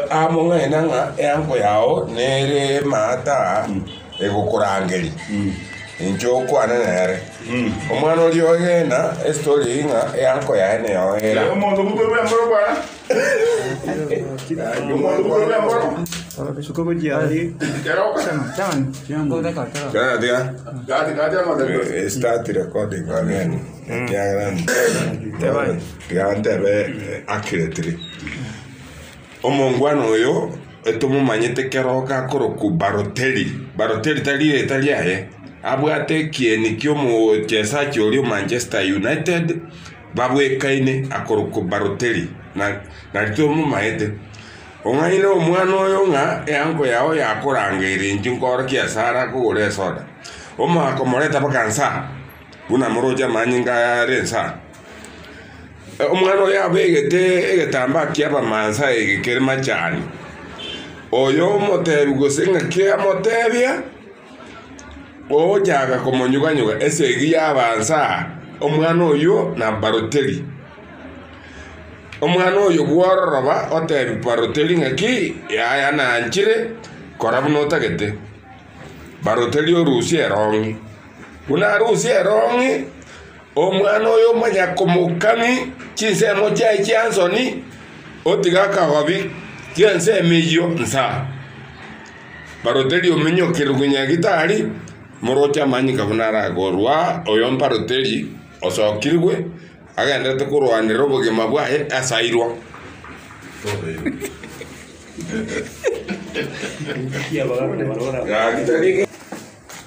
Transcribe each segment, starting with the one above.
Among'aina ng'a eango yao nere emata egokorangeria, inche okwane nere. Omwana oria oegena estory eyio ng'a eango yaye neyoera. Tiga tiga. Eh, start recording again. Ekiagera. Gantebe akiretire, Omongwana oyo etomomanyete kero gakorokwa Baroteli, Baroteli tari rieta riaye, abwate ekieni ki'omochesachi oria o Manchester United babwekaine akorokwa Baroteli, na tomomaete. Ong'aine omwana oyo ng'a eango yao yakorangeire inche nkore kiasara kogora esoda. Omoa komoreta mpaka nsa, buna moroche amanyinga are nsa. Omwana oyo abegete egetambaa ki'Abamaasai ege kere machani, oyo omotebi gose ng'aki amotebia, ogochaka komonyuganyuga esegi y'abaansa aa, omwana oyio na Baroteli. Omwana oyo bw'ororoba otebi Baroteli ng'aki, yaya nanchire kora buna otagete. Baroteli orusie erong'i. Buna arusie erong'i, Omwana oyo omonyakomokani chinsemo chiaye chi'ensoni, otiga akagobi k'ensemo eyio nsa. Barote riominyoki rogwenia gitari, moroche amanyinga buna arakorua oyo'mbaroteri osokirwe, agendererete korwanera obogima bwaye asairwa.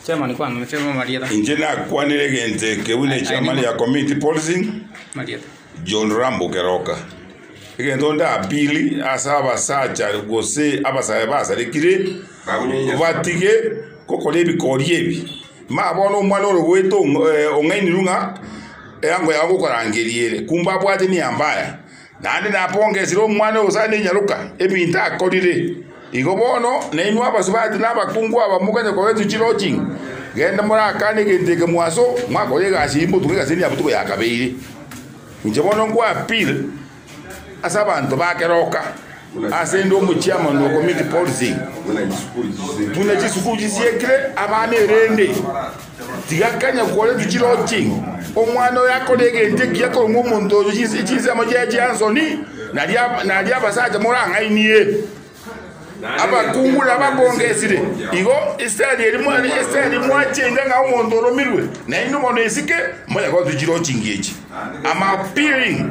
Chairman kwana mete mo marieta. Inche nakwanire egento eke buna echairman ya committee policing Marieta. John Rambo Keroka. Egento ndapili ase abasacha gose abasae basarekire batige gokora ebikori ebi. Ma bono omwana ore goeta ong'ainirwe ng'a eango yao ngokorangeria ere kumbe abwate nia mbaya. Naende napongesire omwana o Hosana enyaroka, ebinto akorire. Igo bono, nainwe abasubati na abakungu aba mokanye koba etuchi lodging, genda morakane egento eke mwaso, mwakore egasi eyio motuke egasi eria botuko ya kabere. Inche bono nkoa appeal ase abanto ba keroka, ase inde omochiamani o community policing, buna chisukuru chisiekire abana erende. Tiga kanya kwarentwe chirochi, omwana oyo akore egento ekiya korwa omonto oyo chinse chinsemo chiaye chi'ensoni, nario abasacha morang'ainie abakung'ure abakongesire. Igo Isiraeli eri mwachenga ng'a omonto oromirwe, naende bono esike moyagotwe chirochi ng'echi. Am appearing.